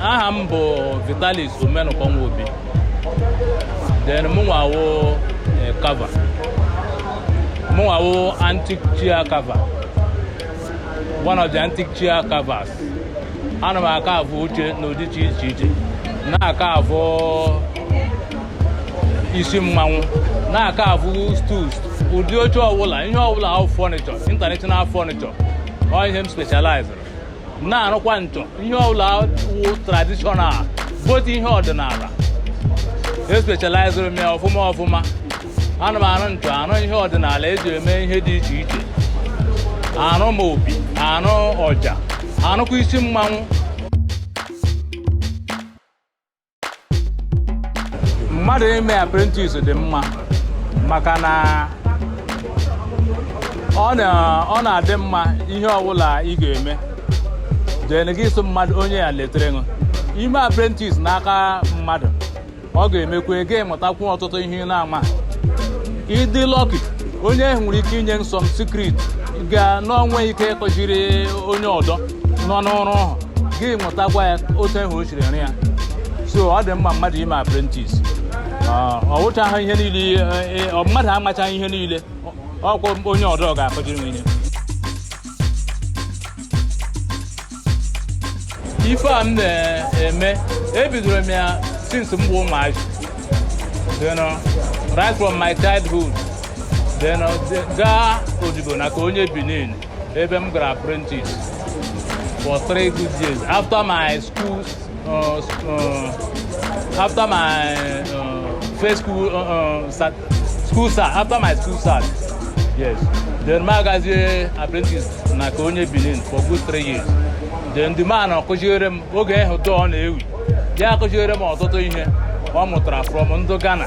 aha m bụ vitalis omenụkọ nwobi then mụnwa wụ carver mụnwa wụ antique chair carver one of the antique chair carvers ana m acarve oche n'ụdị iche iche na-acarve isi mmanwụ na-acarve stools ụdị oche ọbụla ihe ọbụla wụ furniture international furniture ọ ihe m specialized na-arụkwa nchọ ihe ọbụla wụ traditional both ihe ọdịnala e specialized m ya ọfụma ọfụma ana m arụ nchọ arụ ihe ọdịnala eji eme ihe dị iche iche arụ m opi arụ ọja arụkwa isi mmanwụ mmadụ ime apprentice dị mma maka na ọ na-adị mma ihe ọbụla ị ga-eme then gị so mmadụ onye ya letere ṅụ ime apprentice n'aka mmadụ ọ ga-emekwa ka ị mụtakwu ọtụtụ ihe ị na-ama ị dị lucky onye ahụ nwere ike inye some secret ga n'o nweghị ike ịkụjiri onye ọdọ nọ n'ọrụ ahụ gị mụtakwa ya otu ahụ o siri rụ ya so ọ dị mma mmadụ ime apprentice ọ wụchaghị ihe niile e, e, ọ mmadụ amachaghị ihe niile ọkwa onye ọdọ ga-akụjiri m ihe ife a m na-eme ebidoro m ya since m bụ ụmụazị right from my childhood then uh, gaa odibo n'aka onye benin ebe m gara apprentice for three good years after my school uh, uh, after my uh, first school uh, uh, cert, school cert after my school cert yes then m agazie apprentice n'aka onye Benin for good three years then the man akụziere m oge ahụ dọọ na-ewi ya akụziere m ọtụtụ ihe ọ mụtara from ndụ Ghana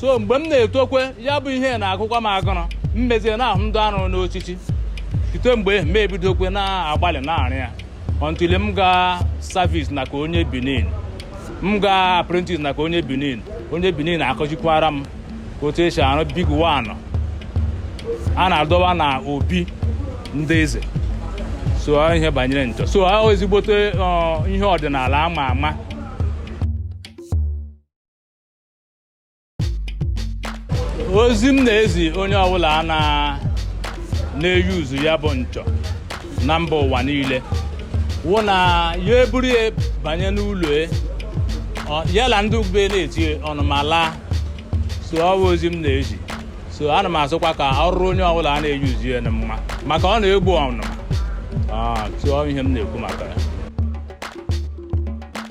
so mgbe m na-etokwe ya bụ ihe na-agụkwa m agụrụ m mezie na-ahụ ndụ a rụrụ n'oshishi site mgbe m ebidokwe na-agbalị na-arụ ya until m gaa service n'aka onye benin m gaa apprentice n'aka onye benin onye benin akụjikwara m otu esi arụ big one a na-adọba na obi ndị eze so ọ ihe banyere nchọ so ọ ezigbote ọ, ihe ọdịnala ama ama ozi m na-ezi onye ọbụla a na- na-euse ya bụ nchọ na mba ụwa niile wụ na ya eburu ya banye n'ụlọ e, ọ- ya na ndị be ya na-eti ọnụma alaa so ọ bụ ozi m na-ezi so ana m asịkwa ka ọ rụrụ onye ọbụla a na-euse ya na mma maka ọ na-egbu ọnụma Ah, so ọ bụ ihe m na-ekwu maka ya